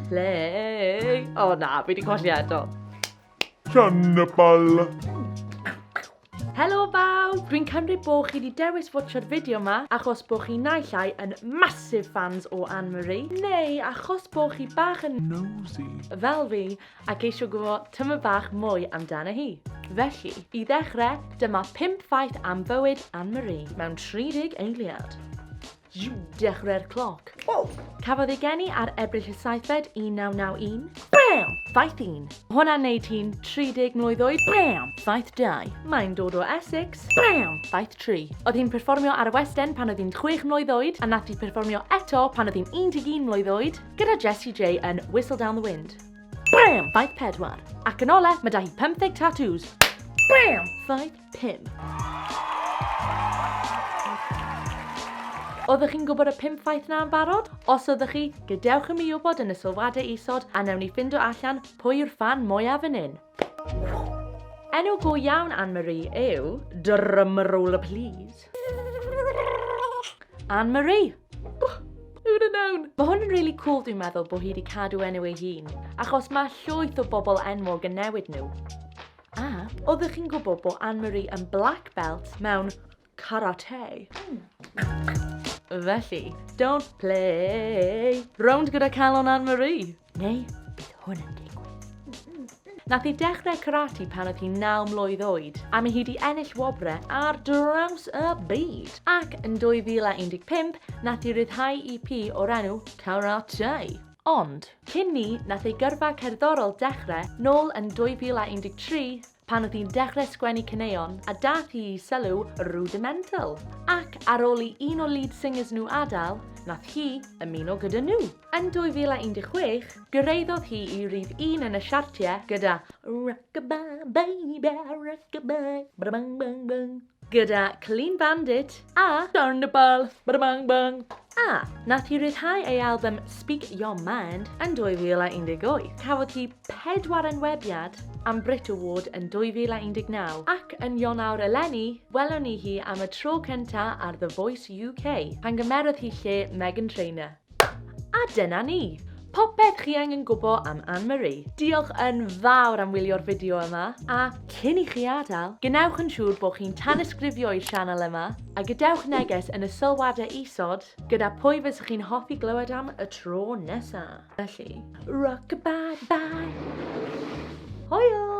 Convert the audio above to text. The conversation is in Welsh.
Ble? O oh, na, fi wedi colli eto. Cannibal. Helo bawb! Dwi'n cymryd bod chi wedi dewis watcho'r fideo yma achos bod chi naill ai yn massive fans o Anne Marie neu achos bod chi bach yn nosy fel fi ac eisiau gwybod tyma bach mwy amdano hi. Felly, i ddechrau, dyma 5 ffaith am bywyd Anne Marie mewn 30 eiliad. You! Dechrau'r cloc. Wow! Cafodd ei geni ar Ebrill y 7fed 1991. Bam! Faith un. Hwnna'n neud hi'n 30 mlwydd oed. Bam! Faith dau. Mae'n dod o Essex. Bam! Faith tri. Oedd hi'n perfformio ar y West End pan oedd hi'n 6 mlwydd oed a nath hi perfformio eto pan oedd hi'n 11 mlwydd oed gyda Jessie J yn Whistle Down the Wind. Bam! Faith pedwar. Ac yn ole, mae da hi 50 tattoos. Bam! Faith Pum. Oeddech chi'n gwybod y pum ffaith na yn barod? Os oeddech chi, gadewch i mi wybod yn y sylwadau isod a newn ni ffindo allan pwy yw'r ffan mwyaf yn un. Enw go iawn Anne-Marie yw... Drum roll please. Anne-Marie! Wna nawn! Mae hwn yn really cool dwi'n meddwl bod hi wedi cadw enw ei hun, achos mae llwyth o bobl enwog yn newid nhw. A oeddech chi'n gwybod bod Anne-Marie yn black belt mewn karate? Felly, don't play! Rownd gyda calon Anne-Marie! Neu, bydd hwn yn Nath i dechrau karate pan oedd hi 9 mlwydd oed, a mae hi wedi ennill wobrau ar draws y byd. Ac yn 2015, nath i ryddhau EP o'r enw Karate. Ond, cyn 'ny, nath ei gyrfa cerddorol dechre, nôl yn 2013, pan o'dd hi'n dechre sgwennu caneuon a dath hi i sylw Rudimental, ac ar ôl i un o lead singers nhw adael, nath hi ymuno gyda nhw. Yn 2016, gyrraeddodd hi i rif un yn y siartiau gyda Rockabye baby, rockabye, ba-da-bang bang bang. gyda Clean Bandit a Carnival Bada Bang Bang. A, nath hi ryddhau ei albym Speak Your Mind yn 2018. Cafodd hi pedwar enwebiad am Brit Award yn 2019 ac yn Ionawr eleni, welwn ni hi am y tro cynta ar The Voice UK, pan gymerodd hi lle Meghan Trainor. A dyna ni! Popeth chi angen gwbo am Anne Marie. Diolch yn fawr am wylio'r fideo yma, a cyn i chi adael, gwnewch yn siŵr bod chi'n tanysgrifio i'r sianel yma, a gadewch neges yn y sylwadau isod gyda pwy fysech chi'n hoffi glywed am y tro nesa. Felly, rock-a-bye-bye! Hwyl!